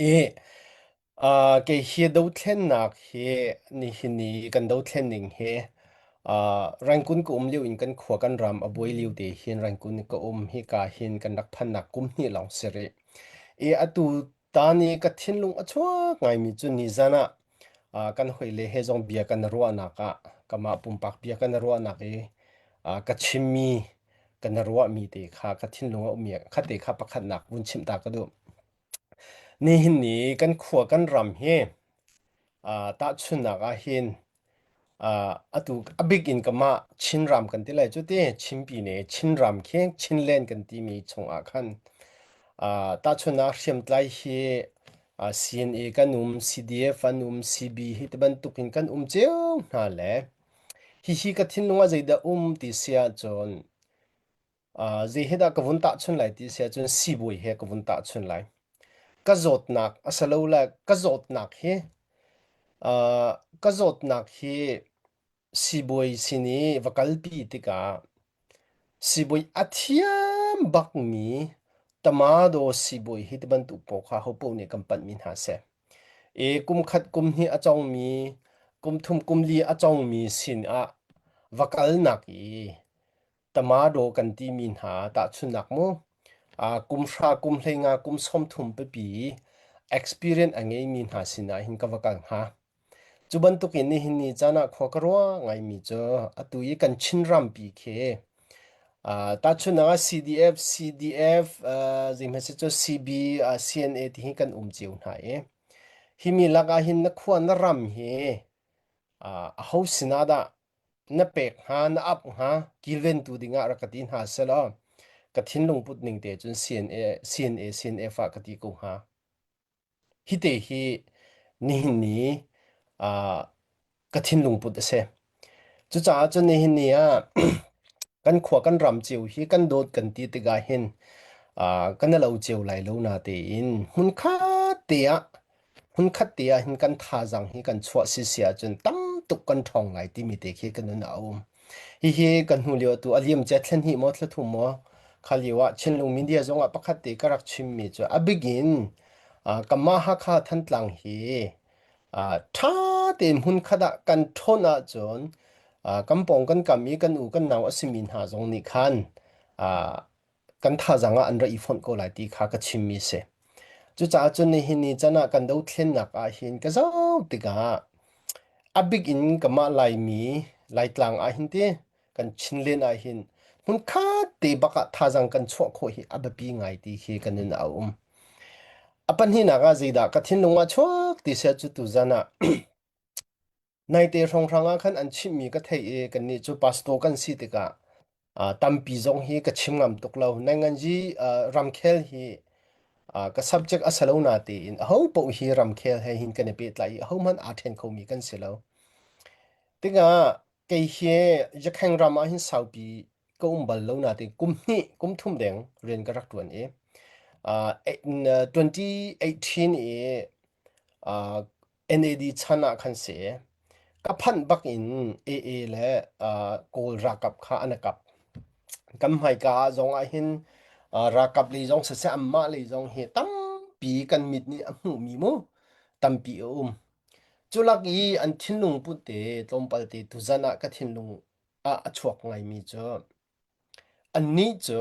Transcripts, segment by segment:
i ah kei hi dothlennak hi nihin ni kan dothlen ning hi ah Rangkun ka um lio in kan khua kan ram a buai lio te hin Rangkun ka um hika hin kan rak phannak kum hnih lawng si rih. I atu ta ni ka thinlung a chuak ngaimi cu nizan ah ah kan hoile he zong bia kan ruahnak ah kamah pumpak bia kan ruahnak i ah ka chimmi ka ruahmi te kha ka thinlung a ummi kha te kha pakhatnak vun chimh ta ka duh. Nihin ni kan khua kan ram hi tahchunhnak ahhin abik in kamah Chinram kan ti lai cu ti. Chinpi ne Chinram khi Chinland kan timi chungah khan tahchunhnak hriamtlai hi CNA kan um, CDF an um, CB hi tibantukin kan um cio hna le hihi ka thinlung ah zeidah um ti si ahcun Uh, zei he dah ka vun tahchun lai ti si ahcun sibawi he ka vun tahchun lai. Ka zawtnak a si lo le ka zawtnak hi uh, ka zawtnak hi sibawi sin i va kalpi tikah sibawi a thiam bakmi tamado sibawi hi ti bantuk pawl kha hopo nih kan panhmi hna si. I kum khat kum hnih a congmi kum thum kum li a congmi sin ah va kalnak i Tamado kan timi hna tahchunhnak mu. Uh, kum hra, kum hlenga, kum sawmthum pipi experience a ngeimi hna sinah hin ka va kal hnga. Cu bantukin nihin ni caan ah khua ka ruah ngaimi cu atu i kan Chinrampi khi uh, tahchunhnak ah CDF, CDF, uh, zihmasi cu CB, uh, CNA ti hi kan um cio hna i himi lakah hin na khua na ram hi uh, a ho sinah dah Na pek hnga, na ap hnga kilventu dingah rak ka ti hna selaw ka thinlung put ning te cun CNA, CNA, CNF ah ka ti ko hnga. Hite hi nihin ni uh, ka thinlung put a si. Cucaah cun nihin ni ah kan khua kan ram cio hi kan dawt kan ti tikah hin uh, kan i lo cio lai lo na tein hmunkhat te ah hmunkhat te ah hin kan thazang hi kan chuah sisi ahcun tam tuk kan ṭhawng ngai timi te khi ka nun ah a um. Hihi kan hnu lio tu a liam cia thlen hi maw thla thum maw kha lio ah Chinlung media zong ah pakhat te ka rak chimmi cu a bik in uh, kanmah Hakha Thantlang hi uh, ṭha tein hmunkhat ah kan ṭhawn ahcun uh, kan pawng kan kam i kan u kan nau a simi hna zong nih khan uh, kan thazang ah an ra i fonh ko lai ti kha ka chimmi a si. Cucaah cun nihin ni can ah kan dothlennak ah hin ka zoh tikah a bik in kamah Laimi Laitlang ah hin ti kan Chinlen ah hin hmun khat te bak ah thazang kan chuah khawh hi a biapi ngai ti khi kan in a um. A pahnihnak ah zeidah ka thinlung ah chuak ti se cu tuzan ah Naite hrawnghrang ah khan an chimhmi ka theih i kannih cu pastor kan si tikah uh, tampi zong hi ka chim ngam tuk lo. Nanganji uh, ramkhel hi uh, ka subject a salo na tein a ho poh hi ramkhel he hin kan i pehtlai i a ho hmanh aa ṭhen khomi kan si lo. Tikah kei hi Jakheng ram ah hin saupi ka um bal lo na te kum hnih kum thum deng rian ka rak ṭuan i uh, 2018 i uh, NAD chan ah khan si ka phanh bak in AA le uh, Kawl ralkap kha an kap kan hmaika ah zong ah hin uh, ralkap le zong siseh amma le zong hi tampi kan mit nih a hmuh mi mu tampi a um culak i an thinlung put te tlawmpal te tuzan ah ka thinlung ah a chuak ngai mi cu anni cu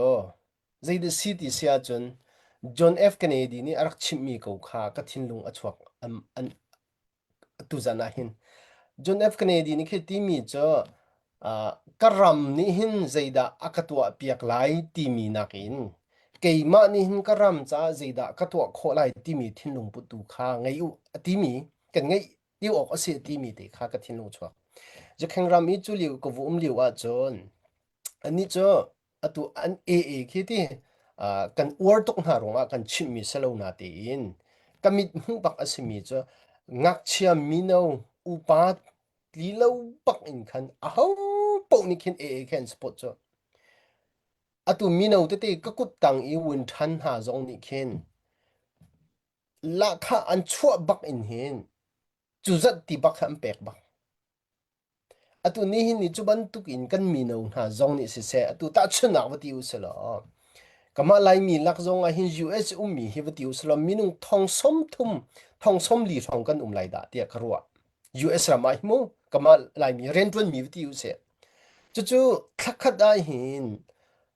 Zei na si ti si ahcun John F. Kennedy nih a rak chimhmi ko kha ka thinlung a chuak an, an, tuzan ah hin. John F. Kennedy nih khi timi cu uh, ka ram nih hin zeidah a ka tuah piak lai timi nakin keimah nih hin ka ram caah zeidah ka tuah khawh lai timi thinlung putu kha ngei u a timi kan ngeih ti awk a si a timi te kha ka thinlung chuak. Zu kheng ram i cu liu ka vu um liu ahcun anih cu atu an ee khi ti uh, kan uar tuk hna ruangah kan chimhmi si lo na tein ka mithmuh bak a simi cu ngakchia mino upa li lo bak in khan aho poh nih khin ee khin spot cu atu mino tete ka kut tang i wun than hna zong nih khin lahkhah an chuah bak in hin cuzat ti bak kha an pek bak Atu nihin ni cu bantuk in kan mino hna zong nih siseh atu tahchunhnak va ti u silaw kamah Laimi lak zong ah hin US ummi hi va ti u silaw minung thong som thum thong som li hrawng kan um lai dah tiah ka ruah. US ram ah hi mu kamah Laimi rianṭuanmi va ti u sih. Cucu thlakhat ah hin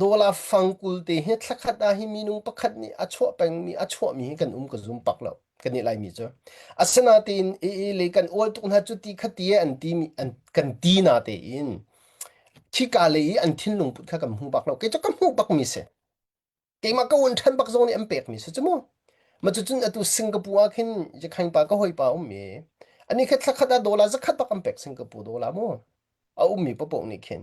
Dawla fang kul te hi thla khat ah hi minung pakhat nih a chuah pengmi a chuahmi hi kan um ka zum pak lo kan i laimi cu asinain e e le kan ual tuk hna cu ti khati an ti an kan ti na te in khika le i an thinlung put kha kan hmu bak lo kei cu ka hmu bakmi si keimah ka un ṭhan bak zong nih an pekmi si cu mu ma cucun atu Singapore ah khin je khangpa ka hawipa um mi ani kha thla khat ah dollar zakhat bak an pek Singapore dollar mu a ummi papoh nih khin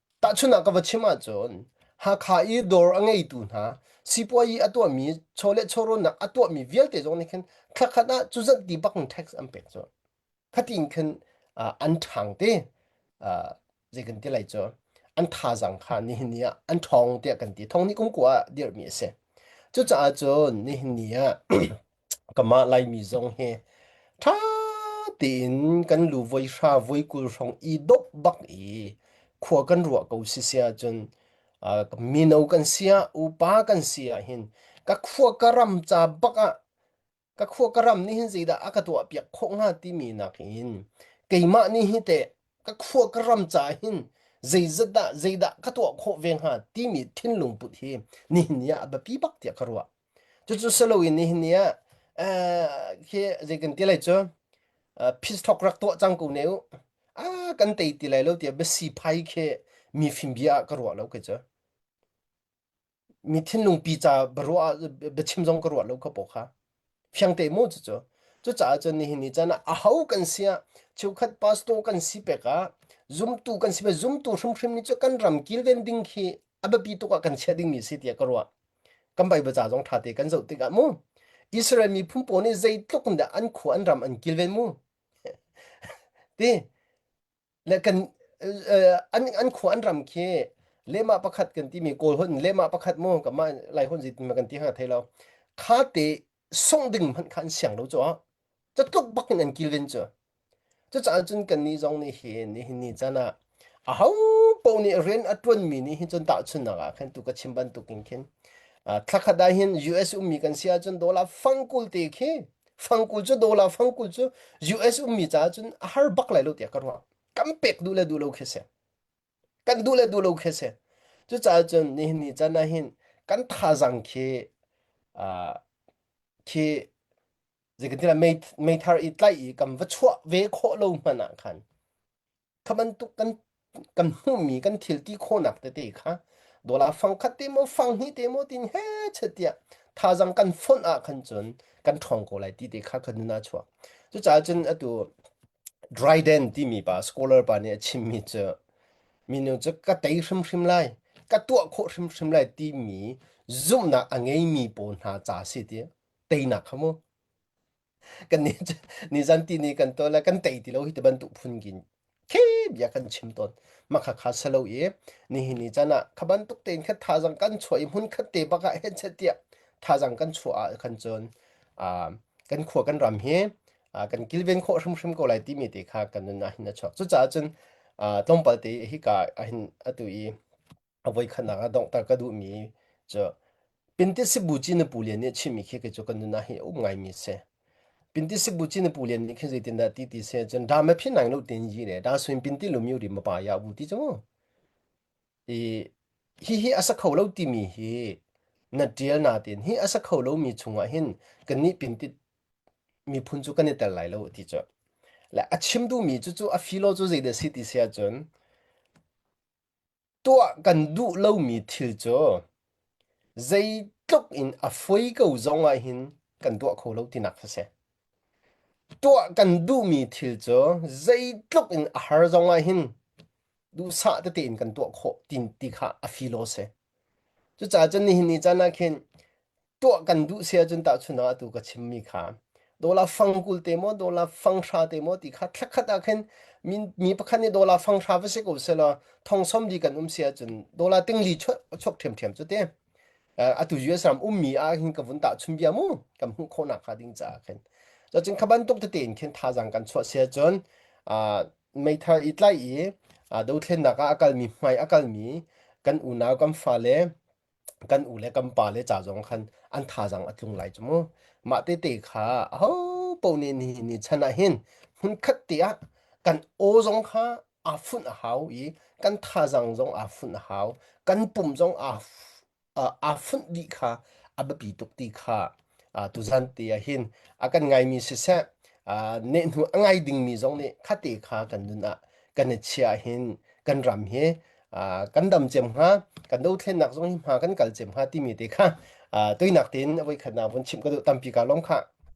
Tahchunah ka va chim ahcun Hakha i dawr a ngeitu hna sipuazi a tuahmi chaw le chawrawnnak a tuahmi vialte zong nih khin thla khat ah cu zanti bak in tax an pek cu khatin khin uh, an ṭhang te uh, zei kan ti lai cu an thazang kha nihin ni ah an ṭhong tiah kan ti thongni kum kua dirhmi a si cucaah cun nihin ni ah Kamah Laimi zong hi ṭha tein kan lu voi hra voi kul hrawng i dop bak i khua kan ruah ko sisia cun uh, mino kan sia upa kan sia hin ka khua ka ram ca bak ah ka khua ka ram nih hin zeidah a ka tuah piak khawh hnga timi nak in keimah nih hi teh ka khua ka ram ca hin zeizat dah zeidah ka tuah khawh ve hnga timi thinlung put hi nihin ni ah a biapi bak tiah ka ruah. Cucu si loin nihin ni ah khi zei kan ti lai cu phis thawk rak tuah cang ko ne u. A kan tei ti lai lo tiah biasiphai khi mifim bia ah ka ruah lo kai cu. Mi thinlung pi ca biaruah biachim zong ka ruah lo kha paw kha. Fiang te mu cucu. Cucaah cun nihin ni caan ah aho kan si ah cheukhat pastor kan si pek ah zumtu kan si pek zumtu hrimhrim ni cu kan ram kilven ding khi a biapi tuk ah kan chiah dingmi si tiah ka ruah. kan bai bacha zong ṭha te kan zoh tikah mu Israel mi phu pawl nih zeitluk in dah an khua an ram an kilven mu ti le kan an an khua an ram khi lema pakhat kan timi kawl hon lema pakhat mu kamah lai hon zitin ma kan ti hanga thei lo kha te sungh ding hmanh kha an siang lo caah catluk bakin an kilven cu cucaah cun kannih zong nih hin nihin ni can ah aho paoh nih rian a ṭuanmi nih hin cun tahchunhnak ah khan tu ka chim bantukin khin thlakhat ah hin US ummi kan si ahcun dollar fangkul te khi fangkul cu dollar fangkul cu US ummi caah cun a har bak lai lo tiah ka ruah kan pek duh le duh lo khi a si kan duh le duh lo khi si cucaah cun nihin ni can ah hin kan thazang khi khi zeikantilah meithar i tlaih i kan va chuah ve khawh lo hmanh ah khan kha bantuk kan kan hmuhmi kan thil ti khawhnak tete kha dola fang khat te maw fang hnih te maw tin he chetiah thazang kan fonh ah khan cun kan ṭhawng ko lai ti te kha kan nun a chuak cucaah cun atu Dryden timi pa scholar pa nih a chimmi cu minu cu ka tei hrimhrim lai, ka tuah khawh hrimhrim lai timi zumhnak a ngeimi pawl hna ca si ti teinak kha mu. Kan nih cu nizan ti ni kan tawl le kan tei ti lo hi ti bantuk phun kin khi bia kan chim tawn. Makha kha salo i nihin ni can ah kha bantuk tein khan thazang kan chuah i hmun khat te bak ah hen set tiah thazang kan chuah ah khan cun ah kan khua kan ram hi uh, kan kilven kho hrimhrim ko lai timi te kha kan nun ahin achuak cucaah cun uh, tlawmpal te hika ahin atu i avoi khatnak a dongh tar ka duh mi cu pinti sibu chi na pulian nih chimi khi ke chu kan nuna hi um ngai mi se pinti sibu chi na pulian nih khi zeitin dah ti ti se cun da ma phin nang nu tin yi re da suin pinti lu mi ri ma pa ya bu ti chu i hihi a sa kho lo timi hi na ṭial natein hi a sa kho lomi chungah hin kan nih pintit miphun cu kan i tel lai lo ti cu le a chim duhmi cu cu a filo cu zeidah si ti si ahcun tuah kan duh lomi thil cu zeitluk in a foi ko zongah hin kan tuah kho lo tinak fa si tuah kan duhmi thil cu zeitluk in a har zongah hin duhsah tete in kan tuah khawh ti, ti kha a filo si. Cucaah cun nihin ni caan ah khin tuah kan duh si ahcun tahchunah atu ka chimmi kha dola fangkul te maw dola fanghra te maw ti kha thlakhat ah khin mi, mi pakhat nih dola fanghra va si ko selo thongsom di kan um si ahcun dola tingli chok chok ṭhiam ṭhiam cu te atu US ram ummi ah hin ka vun tah chun bia mu kan hmuh khawnak hnga ding caah khin cun kha bantuk tete in khin thazang kan chuah si ahcun meithal i tlaih i aa dothlennak ah a kalmi hmai a kalmi kan unau kan fale kan u le kan pa le ca zong khan an thazaang a tlung lai cu mu. Mah tete kha ahopo nih nihin ni chan ah hin hmunkhat te ah kan aw zong kha aa funh a hau i kan thazaang zong aa funh a hau. Kan pum zong aa aa funh dih kha a biapi tuk ti kha tuzan te ah hin a kan ngaimi siseh nehnu a ngai dingmi zong nih khate kha kan nun ah kan i chia hin kan ram hi kan dam cem hnga kan dothlennak zong hi hma kan kal cem hnga timi te kha toinak tein voi khat na vun chimh ka duh tampi ka lawm kha